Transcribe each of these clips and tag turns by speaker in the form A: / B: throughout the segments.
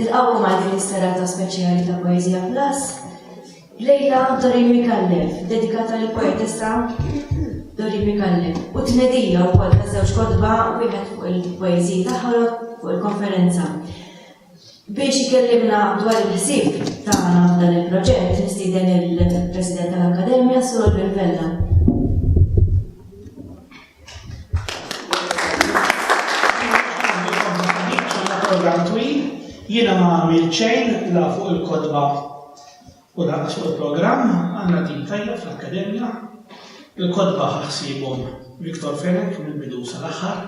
A: Nilqawkom għal din is-serata speċjali ta' Poezija Plus. Lejla Dorin Mikallef, dedikata lill poetessa Dorin Mikallef, u tnedija wkoll ta' żewġ kodba wieħed fuq il-poeżiji tagħha fuq il-konferenza. Biex ikellimna dwar il-ħsieb tagħna f'dan il-proġett nistieden lill-President tal-Akkademja, Sur Oliver Vella.
B: Jiena ma għamil ċejn la fuq il-kodba u lanqas fuq il-programm għandna tim tajjeb fl-Akkademja. Il-kodba ħaħsibhom Viktor Fenek mill-bidu sal-aħħar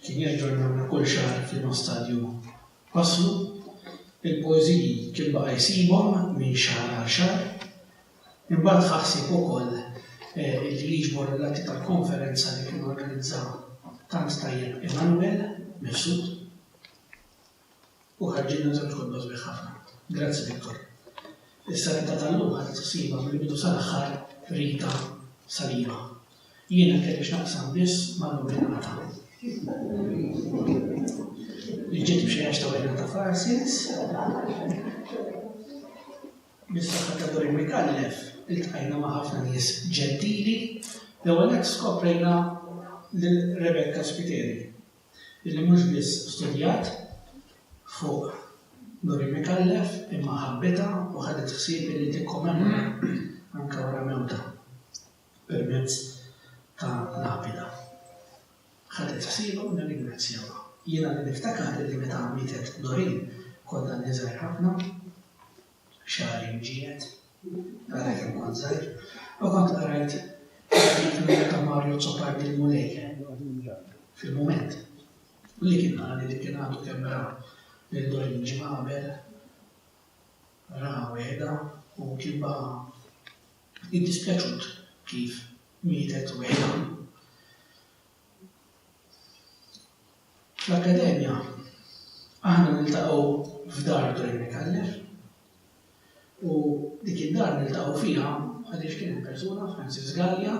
B: Kien jaġġornana kull xahar fi Nostalju Passlu. Il-poeżiji kien baqa' jsibhom minn xahar għal xahar. Imbagħad ħa ħsieb ukoll li jiġbor l-atti tal-konferenza li kien organizza tant tajjeb Immanuel Mifsud. u ħarġilna żewġ kotba sbieħ ħafna. Grazzi Victor. Is-saletta tal-lum ħadet is-sima mill-bidu sal-aħħar Rita Saliba. Jiena kelli x'naqsam biss ma' Nuri Nata. Li ġiet b'xi għax ta' wejna ta' Farsins. Bis-saħħa ta' Dorin Mikallef iltqajna ma' ħafna nies ġentili, l-ewwel nett skoprejna lil Rebecca Spiteri illi mhux biss studjat fuq Nuri Micallef imma ħabbitha u ħadet ħsieb illi tikkomemora anke wara mewtha permezz ta' lapida. Ħadet ħsiebha u nirringrazzjawha. Jiena li niftakar illi meta mietet Doreen kont għadni żgħir ħafna, xahar imġiegħed, għalhekk hemm kont żgħir, u kont qrajt artiklu ta' Mario Zopardi l-Mulej fil-mument. U li kien qali li kien għadu kemm ra lil Doreen Ġmabel, ra weda u kien baqa' iddispjaċut kif mietet weda. Fl-Akkademja aħna niltaqgħu f'dar Dwayne Micallef u dik id-dar niltaqgħu fiha għaliex kien hemm persuna Francis Gallia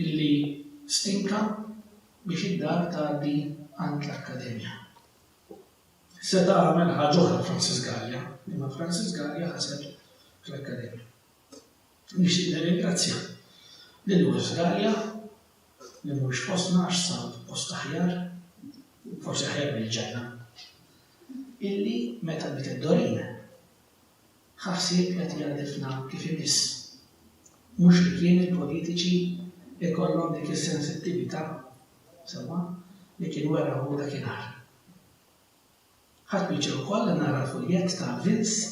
B: illi stinka biex id-dar tgħaddi għand l-Akkademja. Seta' għamel ħaġa oħra Francis Gallia, imma Francis Gallia ħaseb fl-Akkademja. Nixtieq nirringrazzja lil West Gallia, li mhuwiex fostna għax sab post aħjar, forsi aħjar mill-ġenna, illi meta bdiet id-Dorin ħa ħsieb li qed jgħarrifna kif imiss. Mhux li kien il-politiċi jkollhom dik is-sensittività sewwa li kien wera hu dakinhar. Ħadt pjaċir ukoll li nara l-fuljett ta' Vince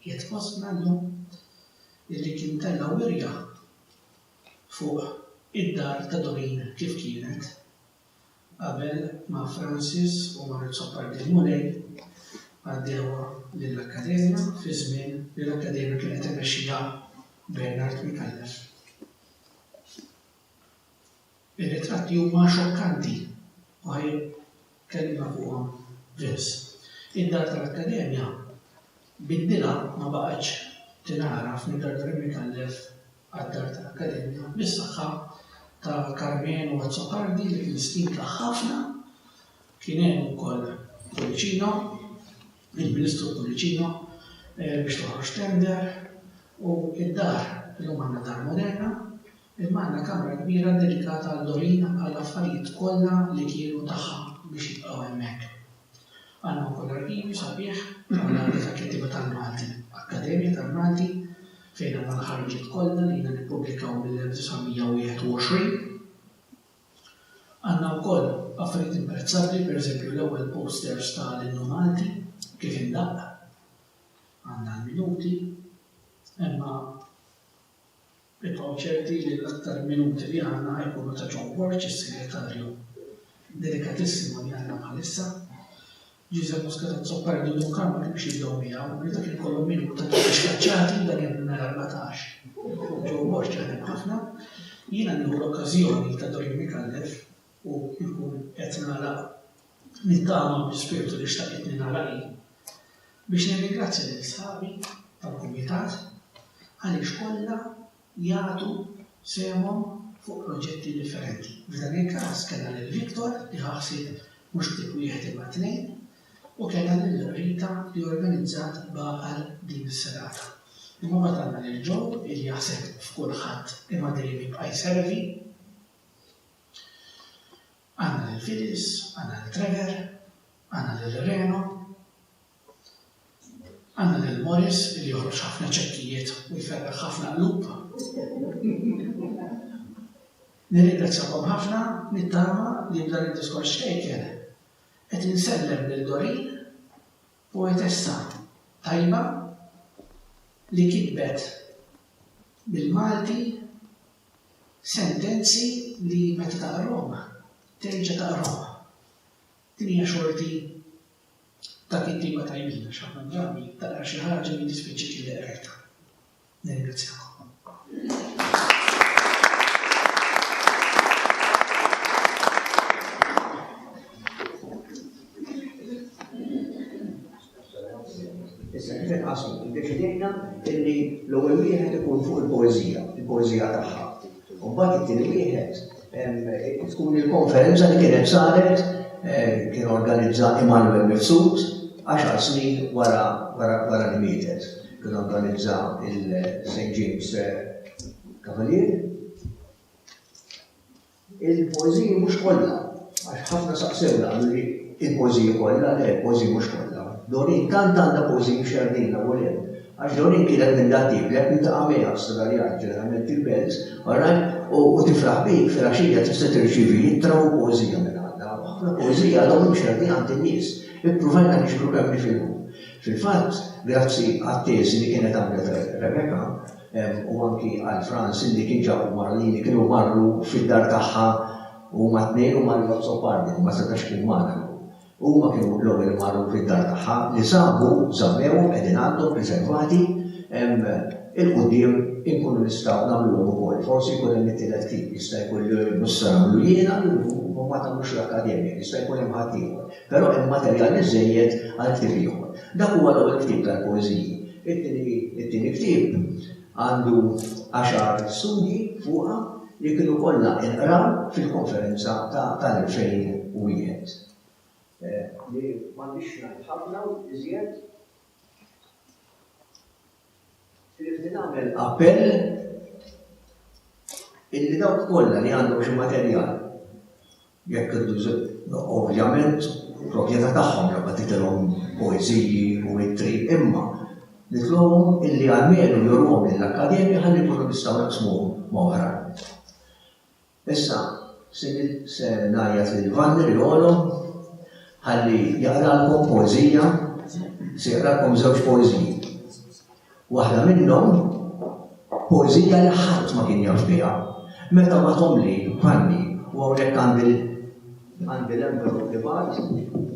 B: qiegħed fostna llum, illi kien tella' wirja fuq id-dar ta' Doreen kif kienet qabel ma Francis u Mart Zoppardin Mulej għaddewha lill-Akkademja fi żmien li l-Akkademja kienet imexxiha Bernard Micallef. Ir-ritratti huma xokkanti u ħa jitkellimna fuqhom Vince. Id-dar tal-Akkademja biddilha ma baqgħetx tingħaraf minn Dar Doremi Callef għad-Dar tal-Akkademja bis-saħħa ta' Karmenu Azzopardi li kien stimta ħafna. Kien hemm ukoll Pullicino, il-Ministru Pullicino biex toħroġ tender u d-dar illum għandna dar moderna. Imma għandna kamra kbira ddedikata għal Dorina għall-affarijiet kollha li kienu tagħha biex jibqgħu hemmhekk. Għandna wkoll arkivju sabiħ mal-Għaqda tal-Kittieba tal-Malti, Akkademja tal-Malti, fejn għandna l-ħarġiet kollha li jiena nippubblikaw mill-1921. Għandna wkoll affarijiet imprezzabbli, pereżempju l-ewwel posters ta' l-Innu Malti kif indaqq. Għandna l-minuti. Imma. Ibqgħu ċerti li l-aktar minuti li għandna ħa jkunu ta' John Borg, is-Segretarju delikatissimo li għandna bħalissa. Giuseppe Muscat Azzopardi u Duncan ma kinux jibdew miegħu, li dak ikollhom min ikun ta' tliet xkaċċati dan hemm nhar 14. John Borg jaħdem ħafna. Jiena nieħu l-okkażjoni ta' Dorin Micallef u nkun qed nagħlaq nittama bi spirtu li xtaqitni nagħlaq hi biex nirringrazzja lil sħabi tal-Kumitat għaliex kollha jagħtu sehemhom fuq proġetti differenti. F'dan il-każ kellna lil Victor li ħa ħsieb mhux ktieb wieħed imma tnejn u kellna lil Rita li organizzat b'għaqal din is-serata. Imma mbagħad għandna lil Joe li jaħseb f'kulħadd imma dejjem jibqa' jservi. Għandna lil Phyllis, għandna lil Trevor, għandna lil Reno, għandna lil Morris li joħroġ ħafna ċekkijiet u jferraħ ħafna qlub. Nirringrazzjakom ħafna nittama li b'dan id-diskors ċkejken qed insellem lil Doreen, poetessa tajba li kitbet bil-Malti, Sentenzi li meta taqrahom terġa' taqrahom. Din hija xorti ta' kittieba tajbin għax ħafna drabi taqra xi ħaġa li dispjaċik li qrajtha. Nirringrazzjakom.
C: Issa kif inqasmu? Iddeċidejna illi l-ewwel wieħed ikun fuq il-poeżija, il-poeżija tagħha. U mbagħad it-tieni wieħed tkun il-konferenza li kienet saret kien organizza Immanuel Mifsud għaxar snin wara wara li mietet. Kien organizza il-St. James Cavalier. Il-poeżiji mhux kollha, għax ħafna saqsewna qalu li il-poeżiji kollha, le il-poeżiji mhux kollha. Doreen tant għandha poeżiji mxerrdin hawn u hemm, għax Doreen kienet minn dak tip li jekk niltaqa' miegħha f'Sodaljan, ġeneralment il-Bells, oħrajn, u tifraħ bik, filgħaxija tista' tirċievi ittra u poeżija minn għandha. U ħafna poeżiji għadhom imxerrdin għand in-nies. Ippruvajna niġbru kemm nifilħu. Fil-fatt, grazzi għat-teżi li kienet għamlet Rebecca, u anki għal Franz illi kien ġab il-Malin li kienu marru fid-dar tagħha huma t-tnejn u Mario Azzopardi li ma setax ikun magħna llum. Huma kienu l-ewwel li marru fid-dar tagħha li sabu żammewhom qegħdin għandhom preservati il-quddiem inkunu nistgħu nagħmluhom ukoll. Forsi jkun hemm it-tielet ktieb, jista' jkun li mhux se nagħmlu jiena u ma tagħmlux l-Akkademja, jista' jkun hemm ħaddieħor, però hemm materjal biżżejjed għal ktieb ieħor. Dak huwa l-ewwel ktieb tal-poeżiji. It-tieni ktieb għandu għaxar studji fuqha li kienu kollha inqraw fil-konferenza ta' tal-2001. Li m'għandix ngħid ħafna iżjed ħlief li nagħmel appell illi dawk kollha li għandhom xi materjal Jekk id-dwsib, ovvjament, hu proprjetà tagħhom jew qed itilhom poeżiji u ittri, imma nitlobhom illi almenu jurhom lill-Akkademja ħalli nkunu nistgħu naqsmuhom ma' oħrajn. Issa, se ngħajjat lil Vanni li għolhom ħalli jaqralkom poeżija, se jaqralkom żewġ poeżiji. Waħda minnhom, poeżija li ħadd ma kien jaf biha, meta bagħthomli Ħanni, u hawnhekk għandi għandi l-envelop li bagħat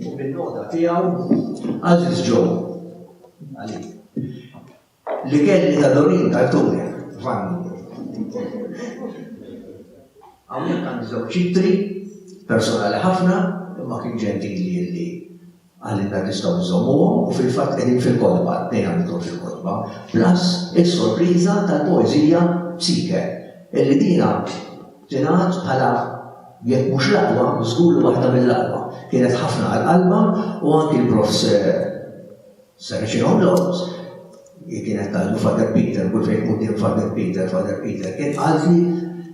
C: u bin-nota tiegħu Għażiż Joe. Għalik. Li kelli ta' Dorin Tartuni, Ħanni. Hawnhekk għandi żewġ ċitri personali ħafna imma kien ġentili li Għalina nistgħu nżommuhom u fil-fatt qegħdin fil-kotba, t-tnejn għamilthom fil-kotba, plus is-sorpriża tal-poeżija Psyche, illi dina tingħad bħala jekk mhux l-aqwa, żgur li waħda mill-aqwa. Kienet ħafna għal qalbha u anki l-Prof. Saracino Lorz, hi kienet tgħidu Father Peter, kull fejn quddiem Father Peter, Father Peter, kien qaltli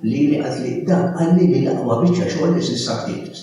C: lili qaltli dan qalli li l-aqwa biċċa xogħol li s'issa ktibt.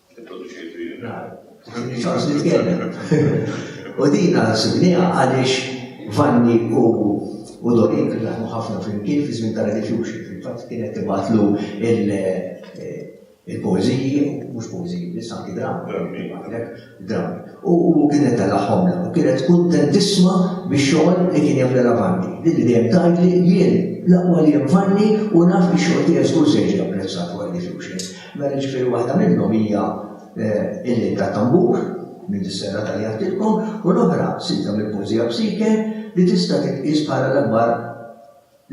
C: U din għasibniha għaliex Vanni u u Dorin kien jaħmu ħafna flimkien fi żmien tal-diffusion. Fil-fatt kienet tibatlu il-pożiji, mhux pożiji, biss anki dramm, dramm. U kienet tal-aħħom u kienet kuntentissma biex xogħol li kien jagħmel Vanni. Din li dejjem tgħidli jien l-aqwa li hemm Vanni u naf li xogħol tiegħi żgur se jiġi apprezzat wara diffusion. Mela jiġifieri waħda minnhom hija l-Lejl tat-Tambur, minn dis-sena tajjartilkom, u l-oħra silta mill-poeżija Psyche li tista' titqies bħala l-akbar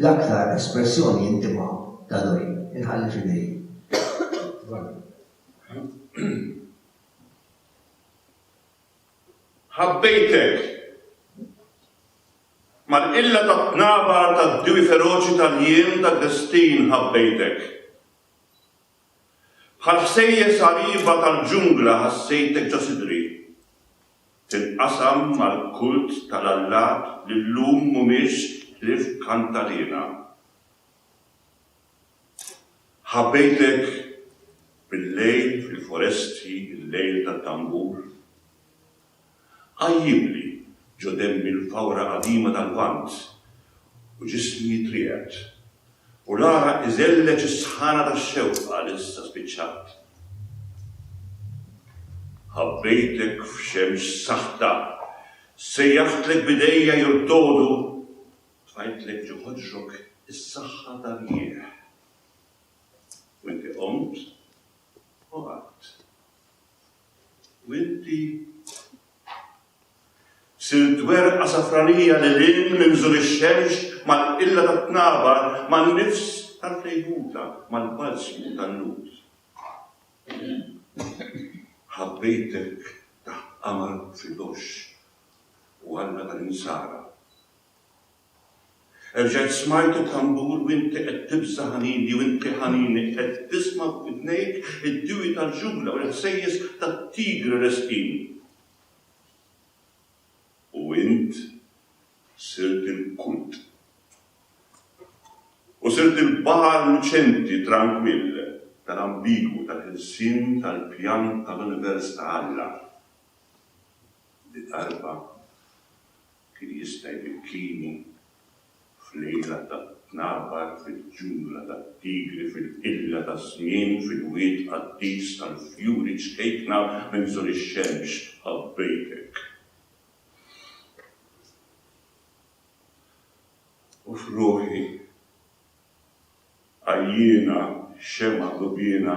C: l-aktar espressjoni intima ta' Doreen. Inħalli f'idejk.
D: Ħabbejtek! Mal-qilla tat-tnabar tad-diewi feroċi tal-jiem tad-destin ħabbejtek. Bħal ħsejjes għarieba tal-ġungla ħassejtek ġo sidri. Tinqasam mal-kult tal-allat li llum mhumiex ħlief kantaliena. Ħabbejtek bil-lejl fil-foresti, il-lejl tat-tambur. Għajjibli ġo denbi l-fawra qadima tal-Lvant, u ġismi jitrieqed, u l-għaraq iżelleġ is-sħana tax-xewqa li issa spiċċat. Ħabbejtek f'xemx saħta, sejjaħtlek b'idejja jurdogħdu, tfajtlek ġo ħoġrok is-saħħa ta' rjieħ. U inti qomt u qatt. U inti sirt werqa safranija lil hinn minn bżur ix-xemx, mal-qilla tat-tnabar, man-nifs tal-fejħuta, mal-balsmu tan-nut. Ħabbejtek taħt qamar fil-għoxx u Alla tal-insara. Erġajt smajt u tambur u inti qed tibża' ħanini u inti ħanini qed tisma' f'widnejk id-dewwi tal-ġungla u l-ħsejjes tat-tigri resqin. U int sirt il-kult. U sirt il-baħar luċenti trankwill tal-ambigwu tal-ħelsien tal-pjan tal-univers ta' Alla li darba Kien jista' jbikkini fl-għira tat-tnabar, fil-ġungla tat-tigri, fil-qilla taż-żmien, fil-wied qaddis tal-fjuri ċkejkna minn żol ix-xemx, ħabbejtek. U f'ruħi. Għajjiena, xemgħa dubiena.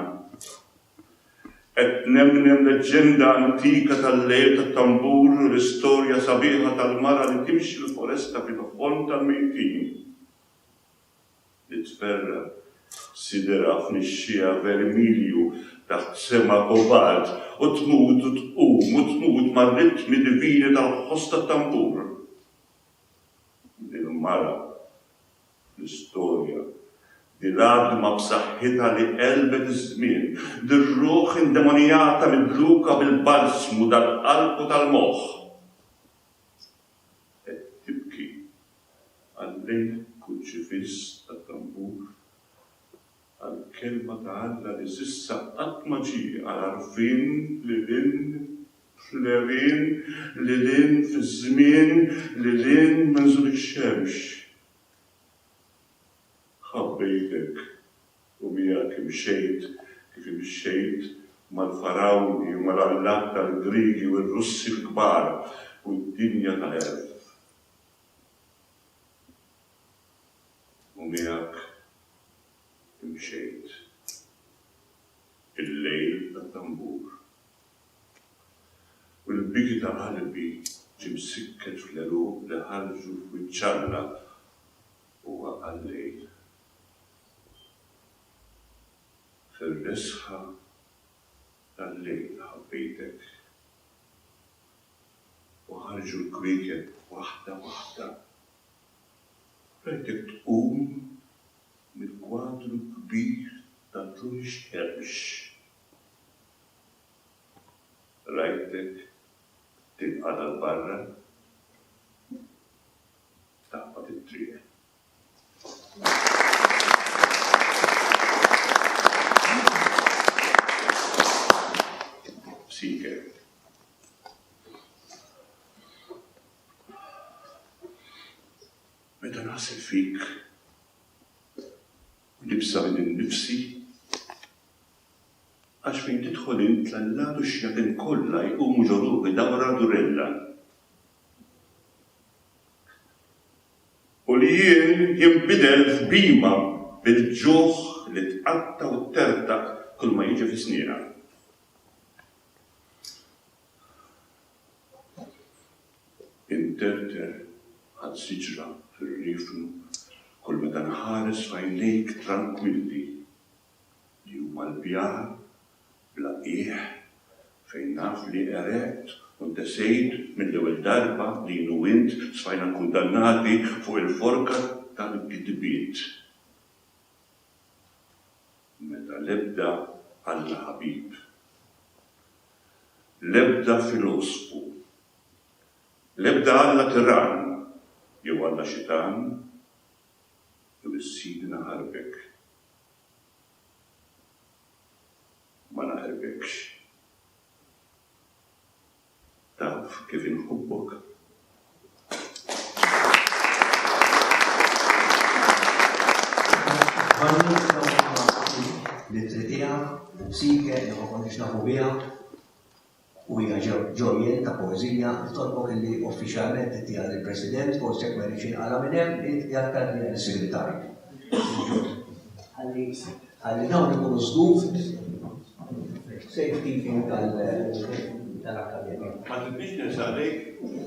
D: Qed nemnem leġġenda antika tal-lejl tat-tambur u l-istorja sabiħa tal-mara li timxi l-foresta fid-dħon tal-mejtin. Nitferra', siderha f'nixxiegħa vermilju taħt sema kobalt u tmut u tqum u tmut mar-ritmi divini tal-ħoss tat-tambur. Din mara. fl-istorja, din għadma b'saħħitha li qelbet iż-żmien, din ruħ indemonijata midluka bil-balsmu tal-qalb u tal-moħħ, qed tibki għal-lejl kruċifiss tat-tambur. għall-Kelma ta' Alla li s'issa qatt ma ġie għal għarfien lil hinn fl-għerien, lil hinn fiż-żmien, lil hinn minn żul ix-xemx. Ħabbejtek u miegħek imxejt kif imxejt mal-Farawni u mal-allat tal-Griegi u r-Russi l-kbar u d-dinja ta' għerf. u miegħek imxejt il-lejl tat-tambur u l-biki ta' qalbi ġie msikket fl-għeruq li ħarġu f'wiċċ Alla u waqa' l-lejl. Fir-resħa tal-lejl ħabbejtek u ħarġu l-kwiekeb waħda waħda. Hekk qed tqum mill-kwadru kbir ta' Toni Xterx. Rajtek tinqagħad għal barra u taqbad it-triq. Seeker. Meta naħseb fik u nibża' minn nifsi, għax fejn tidħol int l-allat u x-xjaten kollha jqumu ġo ruħi dawra durella. U li jien jinbidel f'bhima bil-ġuħ li tqatta' u ttertaq kulma jiġi fi snieqa. Interter bħal siġra fir-riefnu kull meta nħares f'għajnejk trankwilli, li huma l-bjar bla qiegħ fejn naf li qereqt u ntesejt mill-ewwel darba li jien u int sfajna kundannati fuq il-forka tal-gidbiet. Meta l-ebda Alla ħabib. l-ebda filosfu, l-ebda alla tirann jew alla xitan jew is-Sidna Ħarbek ma naħrbekx. Taf kif inħobbok. Sike, li ma konniex nafu biha, u
C: hija ġojjen ta' poezija li tolbok li uffiċjalment tittija lill-President, forsi jekk ma jridx inqala minn hemm, jgħid li għal-segretarju. Ħalli Ħalli dawn ikunu żgur
D: fis-safekeeping tal-Akkademja. Ma tridnix
A: ninsab lejk?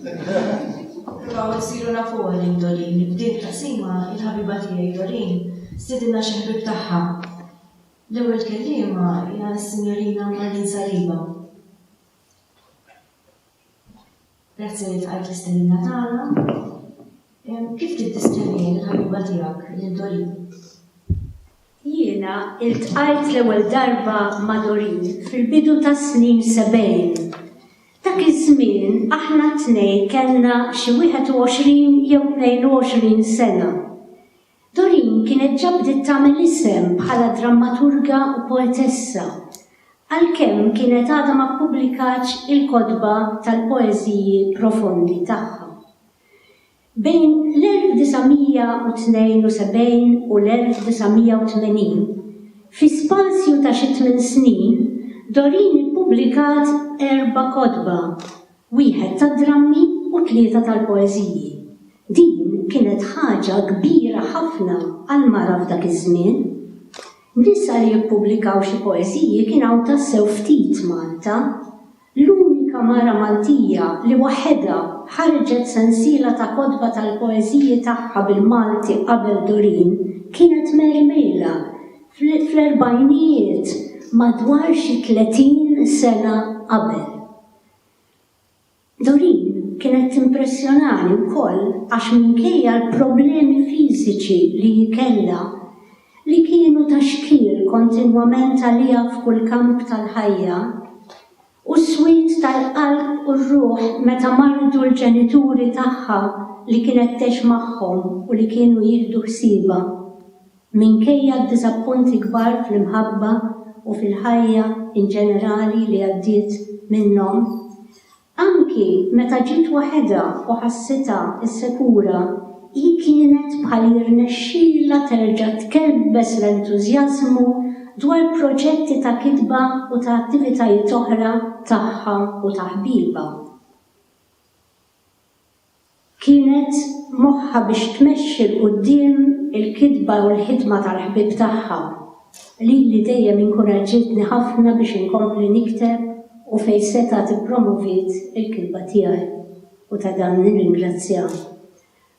A: Nippruvaw insiru nafuha lil Doreen. F'din it-taqsima, il-ħabiba tiegħi Doreen stidinna xi ħbieb tagħha. L-ewwel kelliema hija s-Sinjorina Marlene Saliba. Grazzi li ltqajt l-istennina tagħna. Kif tiddiskrivihom il-ħabiba tiegħek lil Doreen?
E: Jiena ltqajt l-ewwel darba ma' Doreen fil-bidu tas-snin sebgħin. Dak iż-żmien aħna t-tnejn kellna xi 21 jew 22 sena. Doreen kienet ġa bdiet tagħmel isem bħala drammaturga u poetessa, għalkemm kienet għadha ma ppubblikatx il-kotba tal-poeżiji profondi tagħha. Bejn l-1972 u l-1980, fi spazju ta' xi tmien snin, Doreen ippubblikat erba' kotba. wieħed tad-drammi u tlieta tal-poeżiji. Din kienet ħaġa kbira ħafna għal mara f'dak iż-żmien. Nisa li jippubblikaw xi poeżiji kien hawn tassew ftit f'Malta. L-unika mara Maltija li waħedha ħarġet sensiela ta' kotba tal-poeżiji tagħha bil-Malti qabel Doreen kienet Mary Mejla fl-erbgħinijiet madwar xi tletin sena qabel. Doreen kienet timpressjonani wkoll għax minkejja l-problemi fiżiċi li hi kellha, li kienu ta' xkiel kontinwament għaliha f'kull kamp tal-ħajja, u s-swied tal-qalb u r-ruħ meta mardu l-ġenituri tagħha li kienet tgħix magħhom u li kienu jieħdu ħsiebha. Minkejja d-diżappunti kbar fl-imħabba u fil-ħajja in ġenerali li għaddiet minnhom, anki meta ġiet waħedha u ħassitha insekura, hi kienet bħal jirnexxilha terġa' tkebbes l-entużjażmu dwar proġetti ta' kitba u ta' attivitajiet oħra tagħha u ta' ħbiebha. Kienet moħħha biex tmexxi 'l quddiem il-kitba u l-ħidma tal-ħbieb tagħha, lili dejjem inkuraġġietni ħafna biex inkompli nikteb u fejn setgħet ippromoviet il-kitba tiegħi, u ta' dan nirringrazzjaha.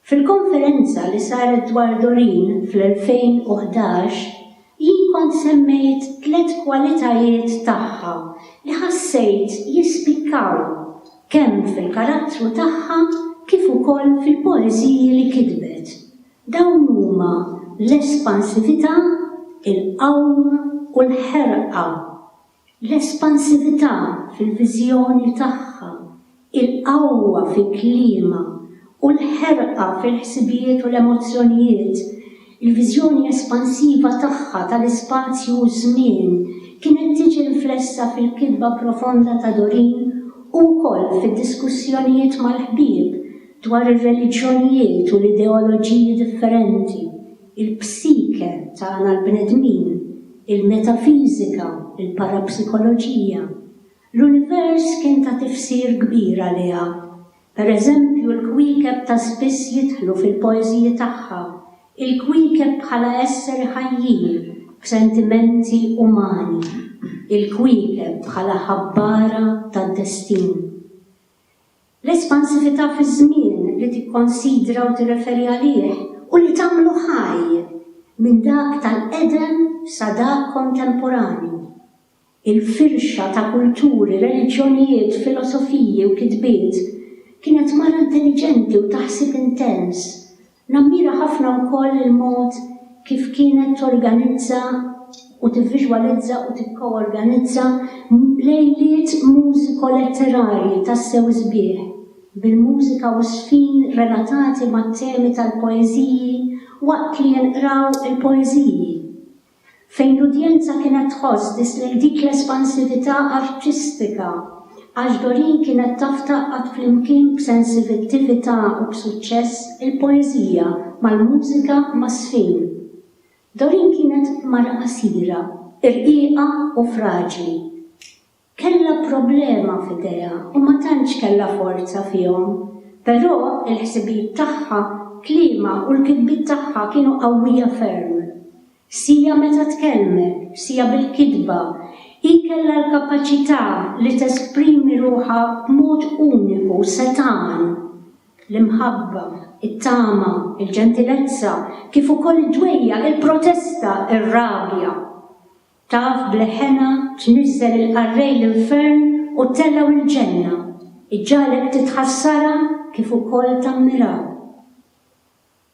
E: Fil-konferenza li saret dwar Doreen fl-2011, Jien kont semmejt tliet kwalitajiet tagħha li ħassejt jispikkaw kemm fil-karattru tagħha kif ukoll fil-poeżiji li kitbet. Dawn huma l-espansività, il-qawm u l-ħerqa. L-espansività fil-viżjoni tagħha, il-qawwa fi kliemha, u l-ħerqa fil-ħsibijiet u l-emozzjonijiet, il-viżjoni espansiva tagħha tal-ispazju u ż-żmien kienet tiġi riflessa fil-kitba profonda ta' Doreen u wkoll fid-diskussjonijiet mal-ħbieb dwar ir-reliġjonijiet u l-ideoloġiji differenti. il-psike tagħna l-bnedmin, il-metafiżika, il-parapsikoloġija. L-univers kien ta' tifsir kbir għaliha. Per eżempju, l-kwiekeb ta' spiss jidħlu fil-poeżiji tagħha, il-kwiekeb bħala esseri ħajjin b'sentimenti umani, il-kwiekeb bħala ħabbara tad-destin. L-espansività fiż-żmien li tikkonsidra u tirreferi għalih u li tagħmlu ħaj minn dak tal-qedem sa dak kontemporanju. Il-firxa ta' kulturi, reliġjonijiet, filosofiji u kitbiet kienet mara intelliġenti u ta' ħsieb intens Nammira ħafna wkoll il-mod kif kienet torganizza u tivviżwalizza u tikkoorganizza lejliet mużiko-letterarji tassew sbieħ, bil-mużika u żfin relatati mat-temi tal-poeżiji waqt li jinqraw il-poeżiji. fejn l-udjenza kienet tħoss biss lejn dik l-espansività artistika, għax Doreen kienet taf tgħaqqad flimkien b'sensivittività u b'suċċess il-poeżija mal-mużika mas-sfin. Doreen kienet mara qasira, irqiqa u fraġli. Kellha problema f'idejha u ma tantx kellha forza fihom. Però il-ħsibijiet tagħha, kliemha u l-kitbiet tagħha kienu qawwija ferm. Sija meta tkellmet, sija bil-kitba, hi kellha l-kapaċità li tesprimi ruħha b'mod uniku, setgħan. L-imħabba, it-tama, il-ġentilezza, kif ukoll id-dwejjaq, il-protesta, ir-rabja. Taf b'leħenha tniżżel il-qarrej l-infern u tellgħu l-ġenna, iġġagħlek titħassarha kif ukoll tammirha.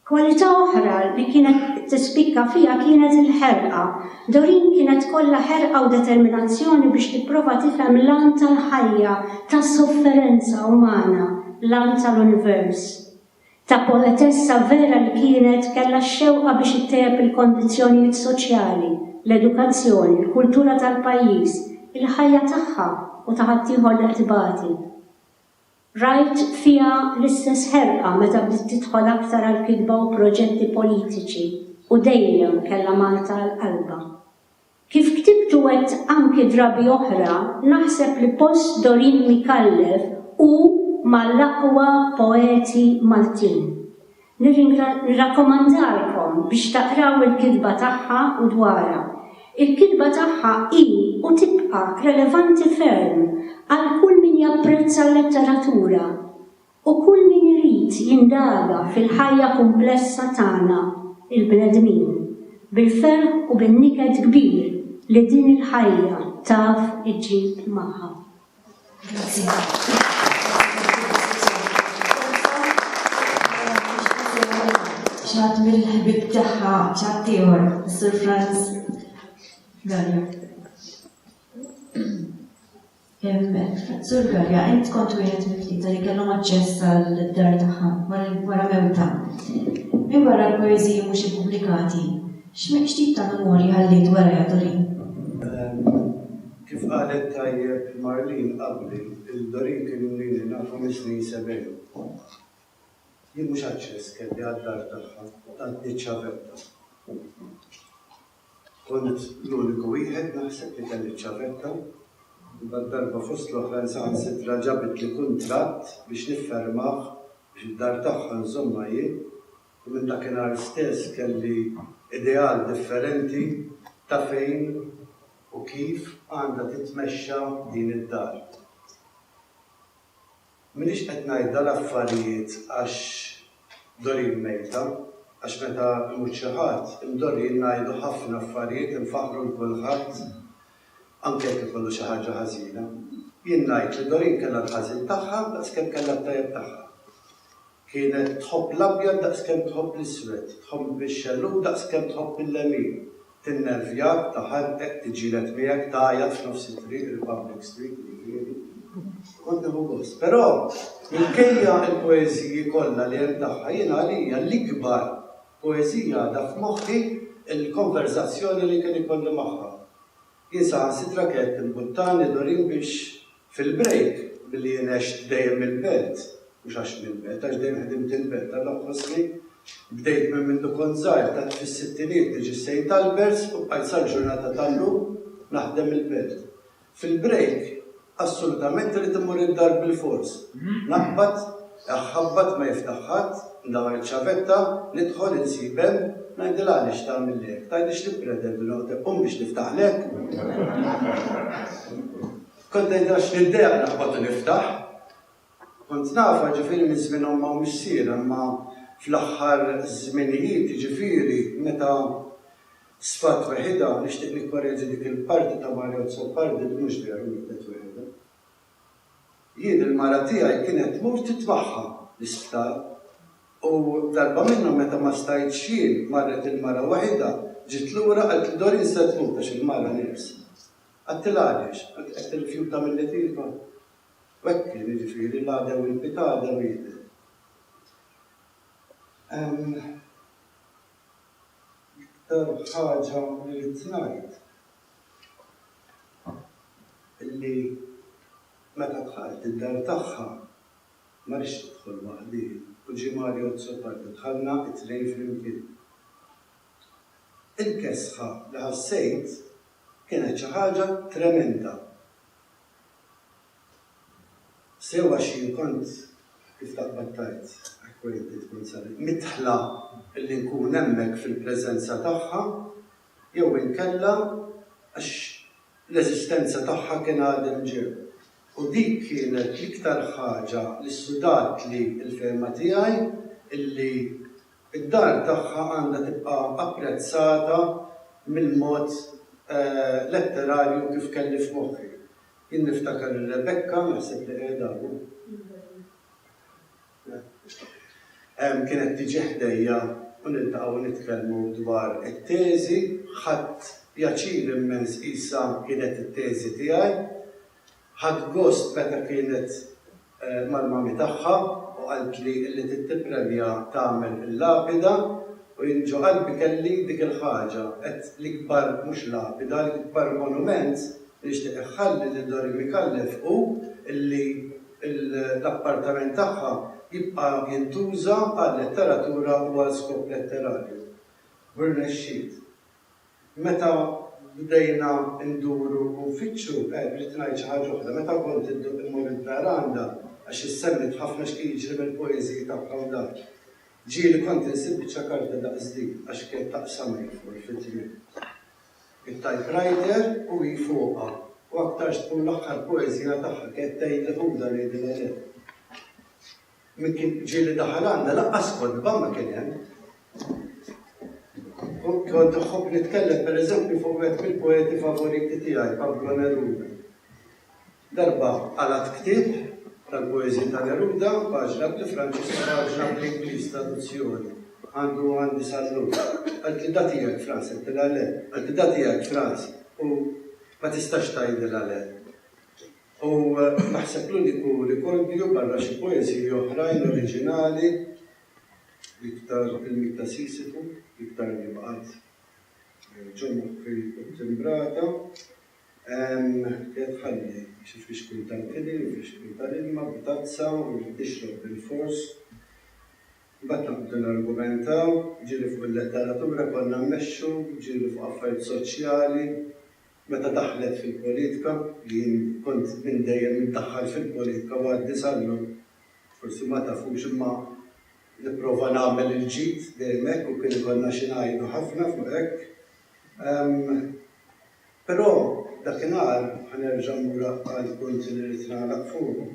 E: Kwalità oħra li kienet tispikka fiha kienet il-ħerqa. Doreen kienet kollha ħerqa u determinazzjoni biex tipprova tifhem l-għan tal-ħajja, tas-sofferenza umana, l-għan tal-univers. Ta' poetessa vera li kienet, kellha x-xewqa biex ittejjeb il-kondizzjonijiet soċjali, l-edukazzjoni, l-kultura tal-pajjiż, il-ħajja tagħha u ta' ħaddieħor li qed ibati. Rajt fiha l-istess ħerqa meta bdiet tidħol aktar għall-kitba u proġetti politiċi u dejjem kellha Malta għal qalbha. Kif ktibt u għedt anki drabi oħra, naħseb li post Doreen Micallef hu mal-aqwa poeti Maltin. Nirrakkomandalkom biex taqraw il-kitba tagħha u dwarha. Il-kitba tagħha hi u tibqa' relevanti ferm għal kull min japprezza l-letteratura. U kull min irid jindaga fil-ħajja kumplessa tagħna, il-bnedmin, bil-ferħ u bin-niket kbir li din il-ħajja taf iġġib magħha.
A: X'għadd mill-ħbieb tagħha, x'għadd ieħor, Sur Franz Gallo. Sur Galea, int kont wieħed mit-tlieta li kellhom aċċess għall-dar tagħha wara mewta. Minn barra l-poeżiji mhux ippubblikati, x'tip ta' memorji ħalliet warajha Doreen?
F: Kif qalet tajjeb Marlene qabli, il-Doreen kien ilni nafu mis-snin sebgħin. Jien mhux aċċess kelli għad-dar tagħha, għadni ċ-ċavetta. Kont l-uniku wieħed, naħseb, li kelli ċ-ċavetta. Imbagħad darba fost l-oħrajn saħansitra ġabitli kuntratt biex niffirmah biex id-dar tagħha nżommha jien u minn dakinhar stess kelli ideal differenti ta' fejn u kif għandha titmexxa din id-dar. M'iniex qed ngħid dan affarijiet għax Doreen mejta, għax meta imut xi ħadd, hemm Doreen ngħidu ħafna affarijiet infaħħru 'l kulħadd anke jekk ikollu xi ħaġa ħażina. Jien ngħid li Doreen kellha l-ħażin tagħha daqs kemm kellha t-tajjeb tagħha. Kienet tħobb l-abjad daqskemm tħobb l-iswed, tħobb bix-xellug daqskemm tħobb il-lemin, tinnervjak, taħarqek, tiġġieled miegħek, tgħajjat f'nofs it-triq, Republic Street nirriferi, u kont nieħu gost. Però, minkejja l-poeżiji kollha li hemm tagħha, jiena għalija l-ikbar poeżija għadha f'moħħi l-konverżazzjoni li kien ikolli magħha. Jien saħansitra kellt il-buttani Doreen biex fil-break, billi jien għext dejjem il-belt, mhux għax nil-belt, għax dejjem ħdimt il-belt, allura nħossni bdejt minn mindu kont żgħir, tant fis-sittinijiet niġi Saint Alberts u bqajt sal-ġurnata tal-lum naħdem il-belt. Fil-break, Assolutament irrid immur id-dar bilfors. Naqbad, iħabbat ma jiftaħ ħadd, ndawwar iċ-ċavetta, nidħol, insib hemm, ngħidilha għaliex tagħmilli hekk, tgħidlix li ppretendi noqgħod hekk, qum biex niftaħlek. Kont ngħidilha x'niddejjaq naqbad u niftaħ. Kont nafha ġifieri minn żmien ommha u missierha imma fl-aħħar żminijiet ġifieri meta Sfat weħidha, nixtieq nikkoreġi dik il-parti ta' Mario Azzopardi li mhux veru wielet weħidha. Jien il-mara tiegħi kienet tmur titbaħħa l-isptar u darba minnhom meta ma stajtx jien marret il-mara weħidha, ġiet lura qaltli Doreen se tmut għax il-mara nieqsa. Qaltilha għaliex? Qaltli qed tirrifjuta milli tibgħat. U hekk kien, jiġifieri l-għadew il-pitgħa għadha mietet. Ehm. L-iktar ħaġa li ridt ngħid illi meta dħalt id-dar tagħha ma ridtx tidħol waħdi u ġie Mario Azzopardi dħalna it-tnejn flimkien. Il-kesħa li ħassejt kienet xi ħaġa tremenda. Sew għax jien kont, kif taqbad tgħid, acquainted, kont sabiq, midħla billi nkun hemmhekk fil-preżenza tagħha, jew inkella għax l-eżistenza tagħha kien għadem ġew. U dik kienet l-iktar ħaġa li ssudatli l-fehma tiegħi illi d-dar tagħha għandha tibqa' apprezzata mill-mod letterarju kif kelli f'moħħi. Jien niftakar lil Rebecca, naħseb li qiegħda hawn. Kienet tiġi ħdejja u niltaqgħu nitkellmu dwar it-teżi. Ħadt pjaċir immens qisha kienet it-teżi tiegħi. Ħadt gost meta kienet mal-mami tagħha u qaltli illi trid tippremja tagħmel il-lapida u jien ġo qalbi kelli dik il-ħaġa, għedt l-ikbar mhux lapida, l-ikbar monument li nixtieq iħalli lil Dorie Micallef hu illi l-appartament tagħha jibqa' jintuża għal-letteratura u għal skop letterarju. U rnexxiet. Meta bdejna nduru u nfittxu, eh, rrid ngħid xi ħaġa oħra, meta kont idduq immur il-veranda, għax issemmit ħafna x'kien jiġri mill-poeżiji tagħha u dak, ġieli kont insib biċċa karta daqs din, għax kienet taqsamha hi fuq il-fitriel. It-typewriter u hi fuqha, u aktarx tkun l-aħħar poeżija tagħha, kienet tgħidli ħudha ngħidilha le. Min kien ġieli daħal għandha lanqas kotba ma kien hemm. Kont nħobb nitkellem pereżempju fuq wieħed mill-poeti favoriti tiegħi, Pablo Neruda. Darba qalat ktieb tal-poeżi ta' Neruda, paġna bl-Franċis u paġna bl-Ingliż traduzzjoni. Għandu għandi sallum. Għalt li datijek Franz, għaltilha le. Għalt li datijek Franz u ma tistax tgħidilha le. U naħseb l-uniku rikordju, barra xi poeżiji oħrajn oriġinali, l-iktar il-Miet ta' Sisifu, l-iktar li baqgħet ġo moħħi u ttimbrata, hija tħalli xi fixkil tal-kili u fixkil tal-ilma b'tazza u li tixrob bilfors. Imbagħad naqbdu nargumentaw, jiġieli fuq il-letteratura konna mmexxu, jiġieli fuq affarijiet soċjali. Meta daħlet fil-politika, li jien kont minn dejjem indaħħal fil-politika u għadni sal-lum, forsi ma tafux imma nipprova nagħmel il-ġid dejjem hekk u kien ikollna xi ngħidu ħafna fuq hekk. Però dakinhar, ħa nerġa' mmur għall-punt li rrid nagħlaq fuqu,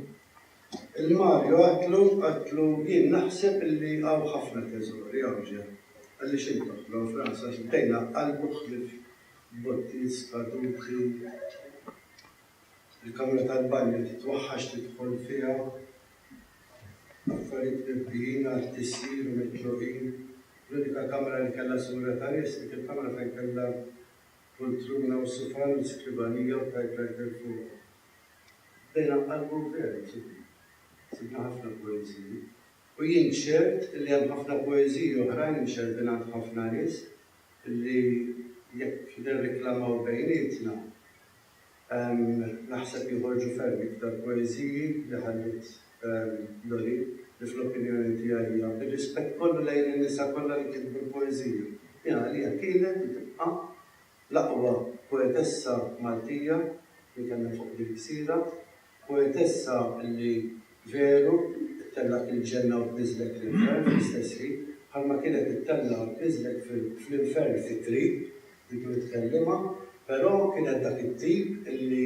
F: lil Mario għedtlu, għedtlu, jien naħseb li hawn ħafna teżori hawn ġenb, għaliex int toħloq f'rasek, bdejna qalbu ħlief botti skaduti, il-kamra tal-banju titwaħħax tidħol fiha, affarijiet mibdijin għat-tisjir u mitluqin, l-unika kamra li kellha sura ta' nies dik il-kamra fejn kellha pultruna u sufan u skribanija u typewriter fuqhom. Bdejna nqallbu veru sibna. Sibna ħafna poeżiji. U jien ċert li hemm ħafna poeżiji oħrajn imxerrdin għand ħafna nies. li jekk nirriklamaw bejnietna, naħseb joħorġu ferm iktar poeżiji li ħalliet Lori, li fl-opinjoni tiegħi hija, bir-rispett kollu lejn in-nisa kollha li kitbu l-poeżija, hi għalija kienet u tibqa' l-aqwa poetessa Maltija li kellna fuq din il-gżira. Poetessa li veru ttellgħet il-ġenna u tniżżlek fl-infern fl-istess ħin, bħalma kienet ittellgħa u tniżżlek fl-infern fit-triq dik li tkellimha, però kienet dak it-tip li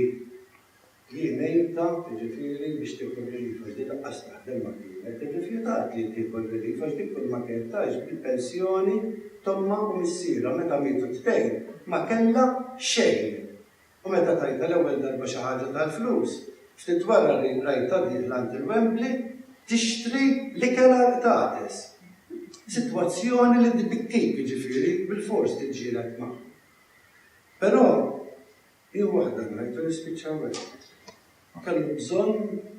F: jien għintha, jiġifieri, biex tieħu r-relief għax din lanqas taħdem ma kienet, irrifjutat li tieħu r-relief għax din kulma kienet tgħix bil-pensjoni t'ommha u missierha meta mietu t-tnejn ma kellha xejn. U meta tajtha l-ewwel darba xi ħaġa tal-flus, ftit wara rajtha dieħla għand il-Wembley tixtri l-ikel għall-qtates. Sitwazzjoni li tbikkik, jiġifieri bilfors tiġġieled magħha. Però hi waħda ngħid u nispiċċaw hekk. Ma kellux bżonn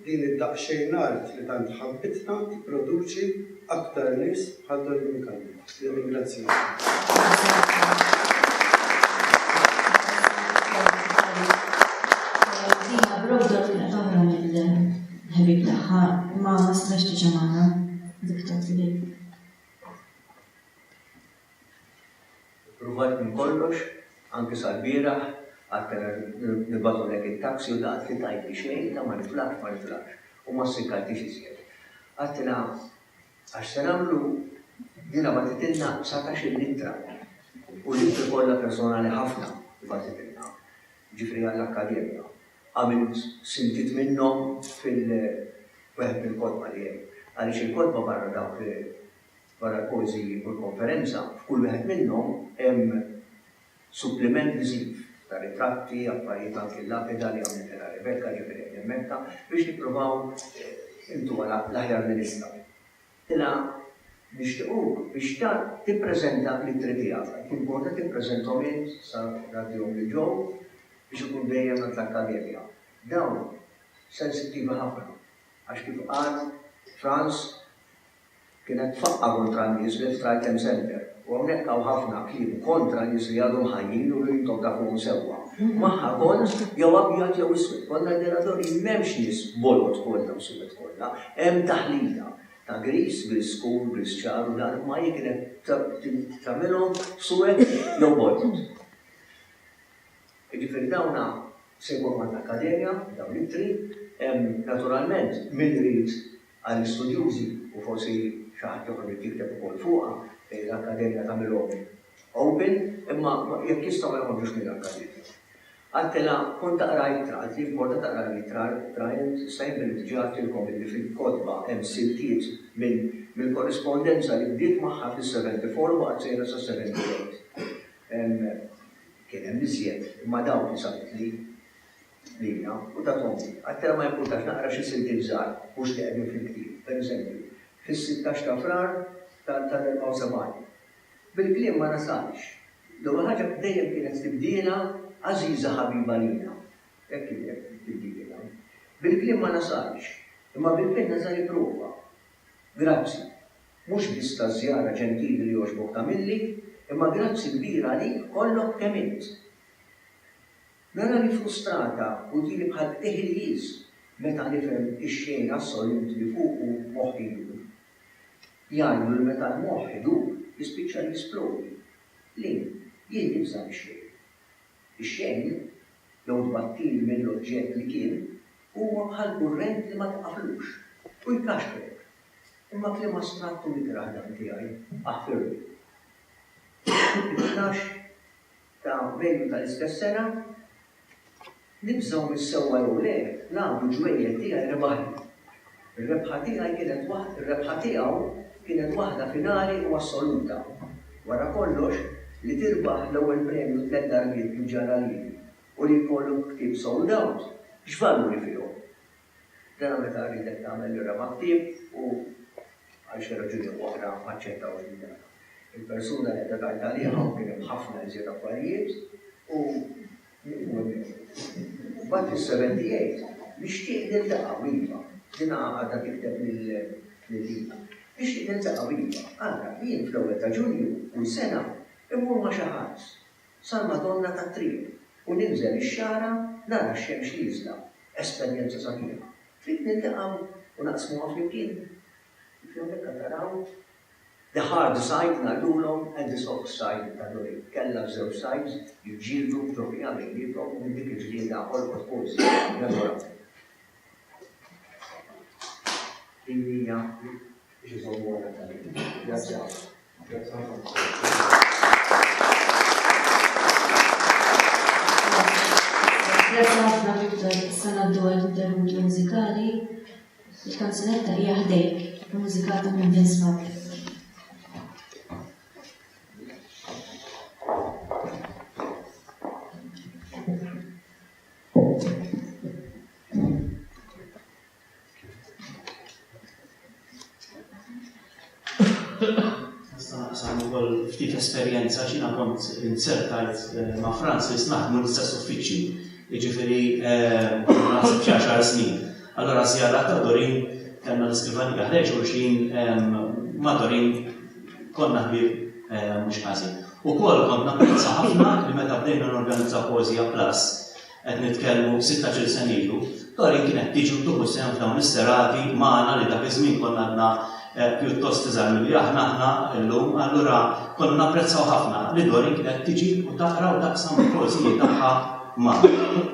F: din id-daqsxejn art li tant ħabbitna tipproduċi aktar nies bħal Don Minkano.
A: Nirringrazzjak.
C: Ippruvajt minn kollox, anki sal-bieraħ, għad kellna nibagħtulek it-taxi u daqt li tgħidli xejn ta' ma nitlaqx ma nitlaqx u ma ssikkantix iżjed. Għadtilha għax se nagħmlu, jiena bagħtitilna satax-il ittra u l-ittri kollha personali ħafna li bagħtitilna, jiġifieri għall-akkademja, għamilt siltiet minnhom fil-wieħed mill-kotba li hemm, għaliex il-kotba barra dawk li Wara l-poeżiji u l-konferenza, f'kull wieħed minnhom hemm suppliment viżiv ta' ritratti, affarijiet anki l-lapida li għamlitilha Rebecca ġiet qegħdin immetta biex nippruvaw intuha l-aħjar li nistgħu. Tilha nixtiequk biex tippreżenta l-ittri tiegħek. Qed tinkwota tippreżenthom int sa ngħaddihom lil Joe biex ikun dejjem għand l-Akkademja. Dawn sensittivi ħafna għax kif qal Franz, Kienet tfaqqa' kontra n-nies li f'Triton Center, u hawnhekk hawn ħafna kliem kontra nies li għadhom ħajjin u li intom tafuhom sewwa. Magħha kont jew abjad jew iswed, konna l-Miradori m'hemmx nies bolod kollha u suwed kollha, hemm taħlita ta' griż, griż skur, griż ċar u dan imma hi kienet tagħmilhom suwed jew bolod. Jiġifieri dawna se jkunu għand l-Akkademja, dawn l-ittri, hemm naturalment min irid għall-istudjużi u forsi xi ħadd ieħor irid jikteb ukoll fuqha, l-Akkademja tagħmilhom open, imma jekk jistgħu ma joħorġux mill-Akkademja. Għaltilha, kont taqrajtha, għaltli importa taqra l-ittra, Bryant, issa jien billi diġà għedtilkom illi fil-kotba hemm siltiet mill-korrispondenza li bdiet magħha fis-74 u baqgħet sejra sas-78. Kien hemm iżjed, imma dawk li sabitli. Lina, u tat ommi. Għaddtela ma jimpurtax naqra xi siltiet żgħar mhux li qegħdin fil-ktieb, per eżempju, fis-sittax ta' Frar tal-74. Bil-kliem ma nasalx. L-ewwel ħaġa dejjem kienet tibdielha għażiża ħabiba lina. Hekk kienet tibdielha. Bil-kliem ma nasalx, imma bil-penna żgħar ipprova. Grazzi. Mhux biss taż-żjara ġentili li jogħġbok tagħmilli, imma grazzi kbir għalik kollok kemm int. Narani frustrata u diri bħal Eħiljiż meta nifhem ix-xejn assolut li fuqu moħħi jdur. Jgħidu li meta l-moħħ idur jispiċċa jisplodi. Le, jien nibża' mix-xejn. Ix-xejn, jew tbattil mill-oġġett li kien, huwa bħal kurrent li ma tqaflux, u jkaxkrek. Imma kliem astratt u mikrah dan tiegħi, aħfirlu. It-tnax. ta' Mejju tal-istess sena, nibżgħu mis-sewwa jew le, l-għadu ġwejjed tiegħi rebaħli. Ir-rebħa tiegħi kienet waħd, ir-rebħa tiegħu kienet waħda finali u assoluta. Wara kollox, li tirbaħ l-ewwel premju tliet darbiet kif ġara lili u li jkollok ktieb sold out, x'valuri fihom? Dan meta rridek tagħmel l-irgħa ma' ktieb u għal xi raġuni oħra m'aċċettawx din l-irgħa. Il-persuna li qiegħda tgħid għaliha u kien hemm ħafna iżjed affarijiet u nieqfu hemmhekk. Imbagħad is-seventy jgħid, Nixtieq niltaqgħu iva, din għadha tikteb lil Lina. Nixtieq niltaqgħu iva, ara, jien fl-ewwel ta' Ġunju kull sena immur ma' xi ħadd. sal-Madonna tat-Triq u ninżel ix-xagħra nara x-xemx nieżla, esperjenza sabiħa. Trid niltaqgħu u naqsmuha flimkien? Kif hawnhekk qed taraw, the hard side ngħidulhom and the soft side ta' Dori kellha ż-żewġ sides jiġġieldu b'ġoħija bejniethom u minn dik il-ġlieda ħolqot poeżija memorabbli. Din hija
A: biex iżommu għal dan il-ħin. Grazzi ħafna. Grazzi ħafna Viktor, sena d-dwar interventi mużikali, il-kanzunetta hija ħdejk, mużikata minn Vince Martin.
B: Naqsam ukoll ftit esperjenza xina kont insertajt eh, ma' Francis naħdmu l-istess uffiċċju. Jiġifieri eh, naħseb xi għaxar snin. Allora żjara ta' Dorin kellna l-iskrivan jaħreġ u xin eh, ma' Dorin konna ħbib mhux ħażin. U kol kont napprezza ħafna li meta bdejna n-organizza Poezija Plus qed nitkellmu sittax-il sena ilu, Doreen kienet tiġi u tieħu sehem f'dawn is-serati magħna li dak iż-żmien konna għadna eh, pjuttost iżgħar milli aħna aħna llum, allura konna napprezzaw ħafna li Doreen kienet tiġi u taqra u taqsam il-poeżiji tagħha magħna.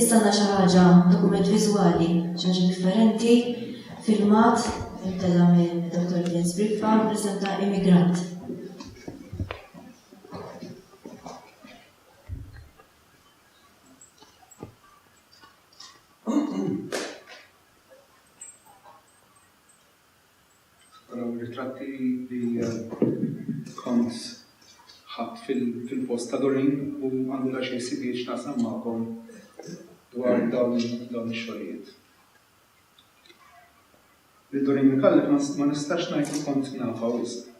A: Issa għandna xi ħaġa dokument viżwali, xi ħaġa differenti, filmat, intela minn Dr. Jens Briffa, presenta immigrant.
G: Dawn ir-ritratti li kont ħadt fil-post ta' Doreen u għandi daqsxejn sibijiet x'naqsam magħkom dwar dawn ix-xogħlijiet. Lil Doreen Micallef ma nistax ngħid li kont nafha wisq.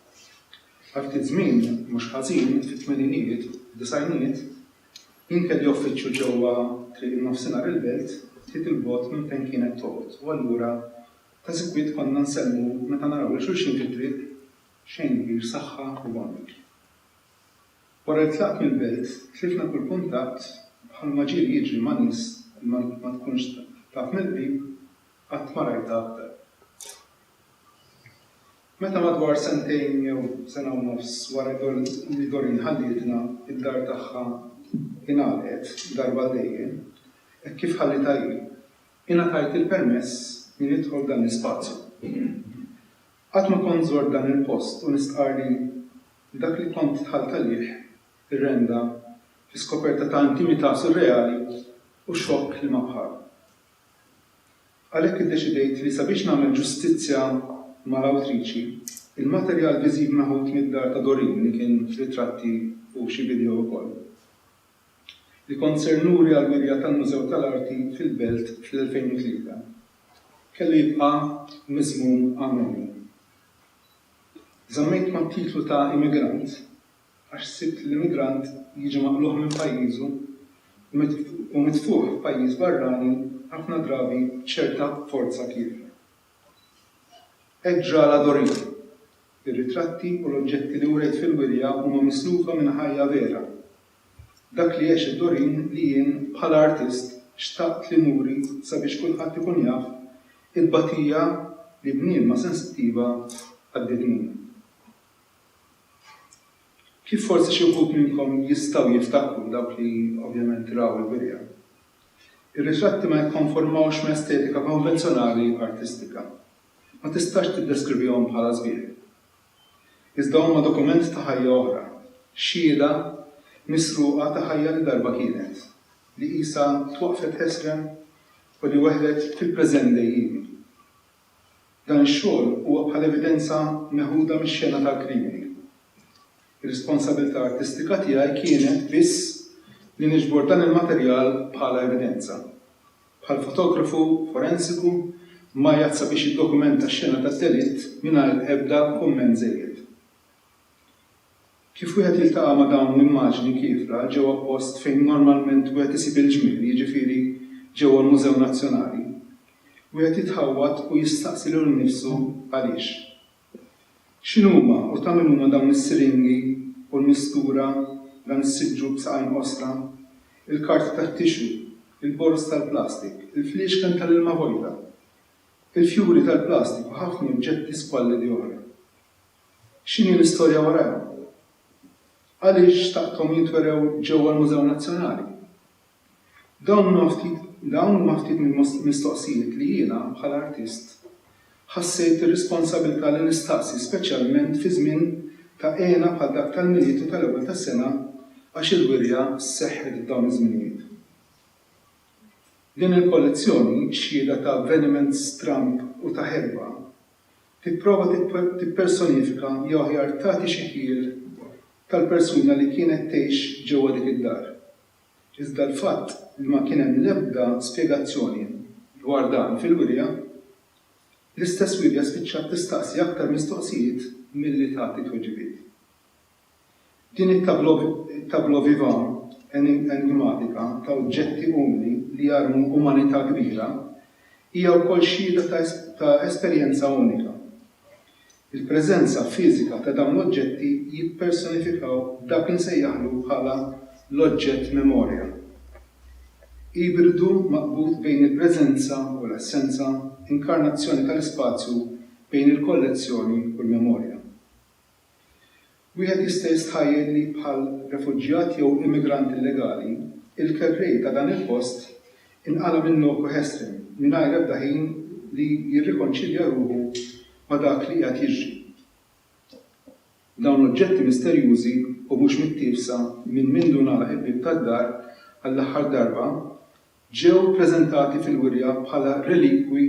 G: Għal ftit żmien, mhux ħażin, fit-tmeninijiet, disgħinijiet, jien kelli uffiċċju ġewwa Triq in-Nofsinhar il-Belt ftit 'il bogħod minn fejn kienet toqgħod u allura Ta' sikwit konna nsellmu meta naraw lil xulxin fit-triq, xejn kbir saħħa u bombik. Wara li tlaqt mill-belt, tlifna kull kuntatt u bħalma ġieli jiġri ma' nies li ma tkunx taf mill-qrib, qatt ma rajtha aktar. Meta madwar sentejn jew sena u nofs wara li Doreen ħallietna, id-dar tagħha ingħalqet darba għal dejjem, hekk kif ħallitha hi, Ingħatajt il-permess li nidħol f'dan l-ispazju. Qatt ma kont żort dan il-post u nistqarr li dak li kont dħalt għalih irrenda fi skoperta ta' intimità surreali u xokk li ma bħalu. Għalhekk iddeċidejt li sabiex nagħmel ġustizzja mal-awtriċi, il-materjal viżiv meħud mid-dar ta' Doreen li kien f'ritratti u xi video ukoll, li kont ser nuri għall-wirja tal-Mużew tal-Arti fil-Belt fl-2003, kellu jibqa' miżmum għall-għoli. Żammejt mat-titlu ta' immigrant għax sibt l-immigrant jiġi maqlugħ minn pajjiżu u mitfugħ f'pajjiż barrani ħafna drabi b'ċerta forza kiefer. Hekk ġra għal Adoreen. Ir-ritratti u l-oġġetti li wriet fil-wirja huma mislufa minn ħajja vera. Dak li għexet Doreen li jien, bħala artist, xtaqt li nuri sabiex kulħadd ikun jaf it-tbatija li bniedma sensittiva għaddiet minnha. Kif forsi xi wħud minnkom jistgħu jiftakru, dawk li ovvjament raw il-wirja. Ir-ritratti ma jikkonformawx ma' estetika konvenzjonali artistika. Ma tistax tiddeskrivihom bħala sbieħ. Iżda huma dokument ta' ħajja oħra, xhieda misruqa ta' ħajja li darba kienet, li qisha twaqqfet ħesrem u li weħlet fil-preżent dejjiemi. Dan ix-xogħol huwa bħal evidenza meħuda mix-xena tal-krimini. Ir-responsabilità artistika tiegħi kienet biss li niġbor dan il-materjal bħala evidenza. Bħal fotografu forensiku, Majat sabiex jiddokumenta x-xena tad-delitt mingħajr ebda kumment żejjed. Kif wieħed jiltaqa' ma' dawn l-immaġni kiefra ġewwa post fejn normalment wieħed isib il-ġmiel, jiġifieri ġewwa l-Mużew Nazzjonali, wieħed jitħawwad u jistaqsi lilu nnifsu għaliex. X'inhuma u ta' min huma dawn is-siringi u l-mistura, dan is-siġġu b'saqajn qosra, il-karti tat-tixu, il-boroż tal-plastik, il-fliexken tal-ilma vojta, il-fjuri tal-plastik u ħafna oġġetti squallidi oħra? X'inhi l-istorja warajhom? Għaliex xtaqthom jintwerew ġewwa l-Mużew Nazzjonali? Dawn huma ftit dawn huma ftit mill-mistoqsijiet li jiena, bħala artist, ħassejt ir-responsabilità li nistaqsi speċjalment fi żmien ta' hena bħal dak tal-Milied u tal-Ewwel tas-Sena għax il-wirja seħħet f'dawn iż-żminijiet. Din il-kollezzjoni, xhieda ta' avveniment stramb u ta' ħerba, tipprova tippersonifika jew aħjar tagħti xi ħjiel tal-persuna li kienet tgħix ġewwa dik id-dar. Iżda l-fatt li ma kien hemm l-ebda spjegazzjoni dwar dan fil-wirja, l-istess wirja spiċċat tistaqsi aktar mistoqsijiet milli tagħti tweġibiet. Din it-tableau vivant enigmatika ta' oġġetti umli li jarmu umanità kbira hija wkoll xhieda ta' esperjenza unika. Il-preżenza fiżika ta' dawn l-oġġetti jippersonifikaw dak li nsejjaħlu bħala l-oġġett memorja, ibridu maqbud bejn il-preżenza u l-assenza, inkarnazzjoni tal-ispazju bejn il-kollezzjoni u l-memorja. Wieħed jista' jistħajjel li bħal refuġjat jew immigrant illegali, il-kerrej ta' dan il-post inqala' minn loku ħesrem, mingħajr ebda ħin li jirrikonċilja ruħu ma' dak li qiegħed jiġri. Dawn oġġetti misterjużi u mhux mittiefsa minn mindu ngħalaq il-bieb tad-dar għall-aħħar darba ġew preżentati fil-wirja bħala relikwi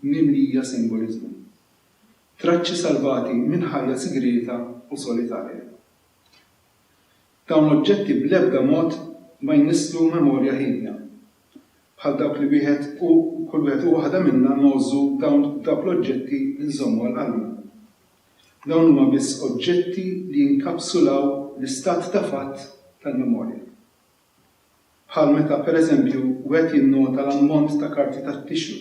G: mimlija simboliżmu. Traċċi salvati minn ħajja sigrieta u solitarja. Dawn l-oġġetti bl-ebda mod ma jnisslu memorja hiedna, bħal dawk li wieħed u kull wieħed u waħda minna ngħożżu dawn dawk l-oġġetti li nżommu għal qalbna. Dawn huma biss oġġetti li jinkapsulaw l-istat ta' fatt tal-memorja. bħal meta pereżempju wieħed jinnota l-ammont ta' karti tat-tixu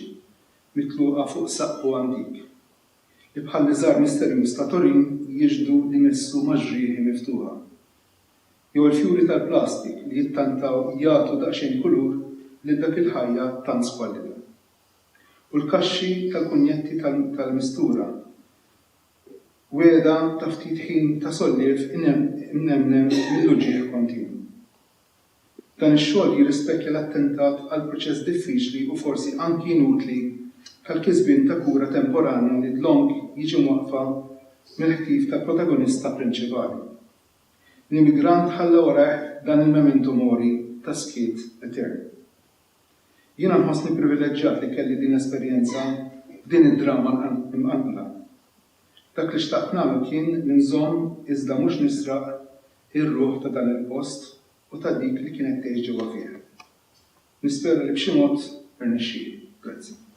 G: mitluqa fuq saqqu antik, li bħall-iżar misterjuż ta' Turin jixhdu li missu ma' ġrieħi miftuħa. Jew il-fjuri tal-plastik li jittantaw jagħtu daqsxejn kulur lil dak il-ħajja tant squallida. U l-kaxxi tal-kunjetti tal-mistura wegħda ta' ftit ħin ta' solliev imnemnem mill-uġigħ kontinwu. Dan ix-xogħol jirrispettja l-attentat għal proċess diffiċli u forsi anki inutli tal-kisbien ta' kura temporanja li dlonk jiġi mwaqqfa mill-ħtif tal-protagonista prinċipali. L-immigrant ħalla warajh dan il-memento mori ta' skiet etern. Jiena nħossni privileġġjat li kelli din l-esperjenza f'din id-drama mqanqla. Dak li xtaqt nagħmel kien li nżomm iżda mhux nisraq ir-ruħ ta' dan il-post u ta' dik li kienet tgħix ġewwa fih. Nispera li b'xi mod irnexxieli. Grazzi.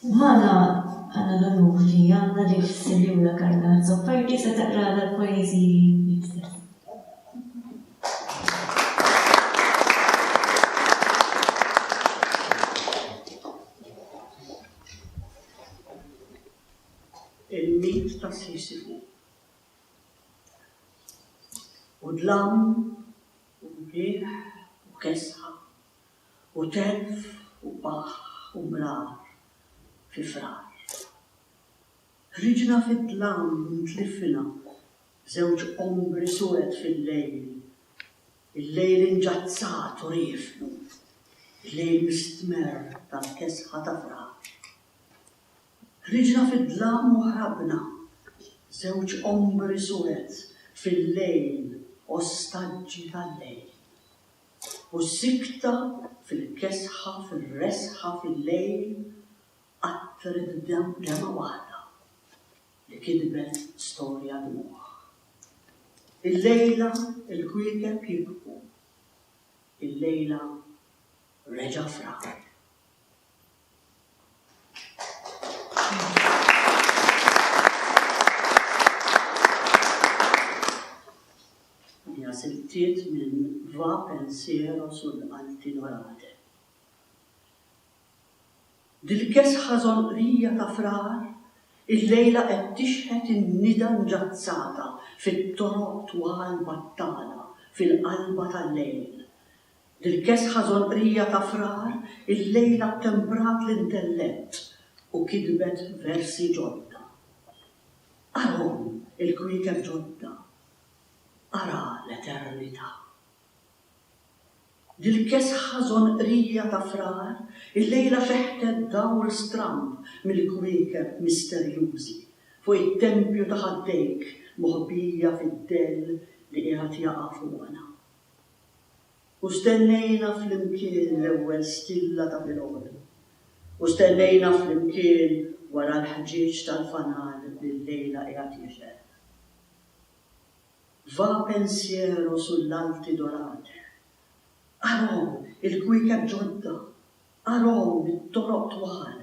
A: Bħala bħala l-onur li għandna li s-Sinjura Carla Azzopardi se taqralna l-poeżiji li kteb. Il-mit
H: ta' Sisifu U dlam u mlieħ u kesħa u telf u qah u mrar fi frar. Ħriġna fid-dlam u tlifna b'żewġ ombri suwed fil-lejl, il-lejl inġazzat u riefnu, il-lejl mistmerr tal-kesħa ta' frar. Ħriġna fid-dlam u ħrabna, żewġ ombri suwed fil-lejl ostaġġi tal-lejl. U s-sikta fil-kesħa fir-resħa fil-lejl qattret demmgħa waħda li kitbet storja dmugħ. Illejla l-kwiekeb jibku. Illejla reġa' frak. Hija sibtiet minn Va Pensiero sul Alti Norate. Dil-kesħa żonqrija ta' frar illejla qed tixħet in-nida nġazzata fit-toroq twal Battala fil-qalba tal-lejl Il-kesħa żolqrija ta' Frar illejla ttemprat l-intellett u kitbet versi ġodda. Arahom il-kwiekeb ġodda, ara l-eternità. Dil-kesħa żonqrija ta' Frar illejla feħtet dawl stramb mill-kwiekeb misterjużi fuq it-tempju ta' ħaddejk moħbija fid-dell li qiegħed jaqa' fuqna. U stennejna flimkien l-ewwel stilla ta' filgħodu. U stennejna flimkien wara l-ħġieġ tal-fanal li llejla qiegħed jixgħel. Va pensiero sull'alti dorate Arahom il-kwiekeb ġodda, arahom it-toroq twal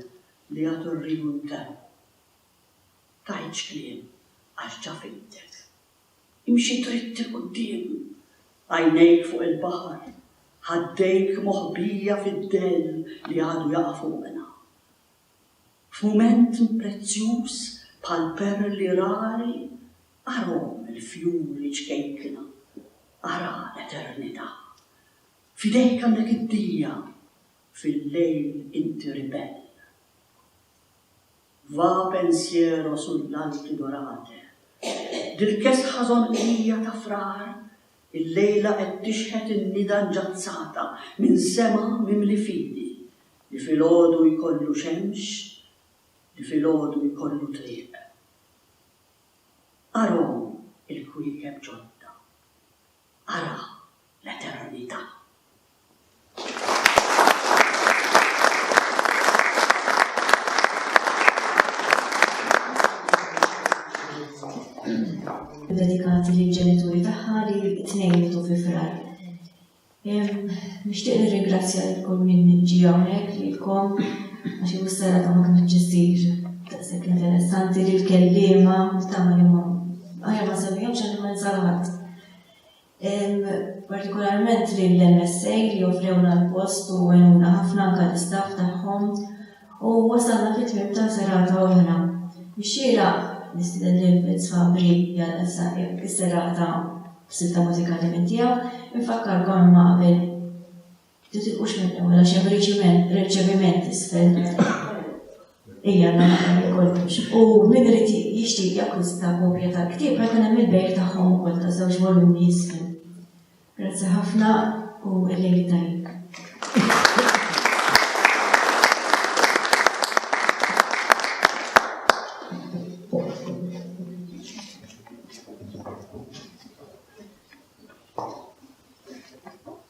H: li jagħtu r-riju nterru. Tgħidx kliem għax ġa fidtek Imxi dritt 'il quddiem, għajnejk fuq il-baħar, ħaddejk moħbija fid-dell li għadu jaqa' fuqna. F'mument prezzjuż bħal perli rari, arahom il-fjuri ċkejkna, ara l-eternità. F'idejk għandek id-dija, fil-lejl inti ribell. Va pensiero sull'alti dorate. Dil-kesħa żonqija ta' frar illejla qed tixħet in-nida nġazzata minn sema mimli fidi li filgħodu jkollu xemx, li filgħodu jkollu triq. Arhom il-kwiekeb ġodda. ara l-eternità.
A: Dedikati lill ġenituri tagħha li t-tnejn mitu fi frar. Nixtieq nirringrazzja lil kull min ġi hawnhekk lilkom għax hu s-sera ta' ma kienx ġisir daqshekk interessanti li l-kelliema tagħmel imam. Aħjar ma nsemmihomx għalli ma ninsal ħadd. Partikolarment lill-MSA li joffrewna l-post u għenuna ħafna anka l-istaff tagħhom u wasalna fit-tmiem ta' serata oħra. Ix-xira nistiden lil Vince Fabri jgħal issa is-serata b'silta mużikali minn tiegħu, infakkarkom imma qabel Titilqux minn hawn għax hemm riċiment, riċeviment isfel. Ejja nagħmel li kollox. U min irid jixtieq jakkwista kopja tal-ktieb ma jkun hemm il-bejk tagħhom ukoll ta' żewġ volumi isfel. Grazzi ħafna u l-lejl tajjeb.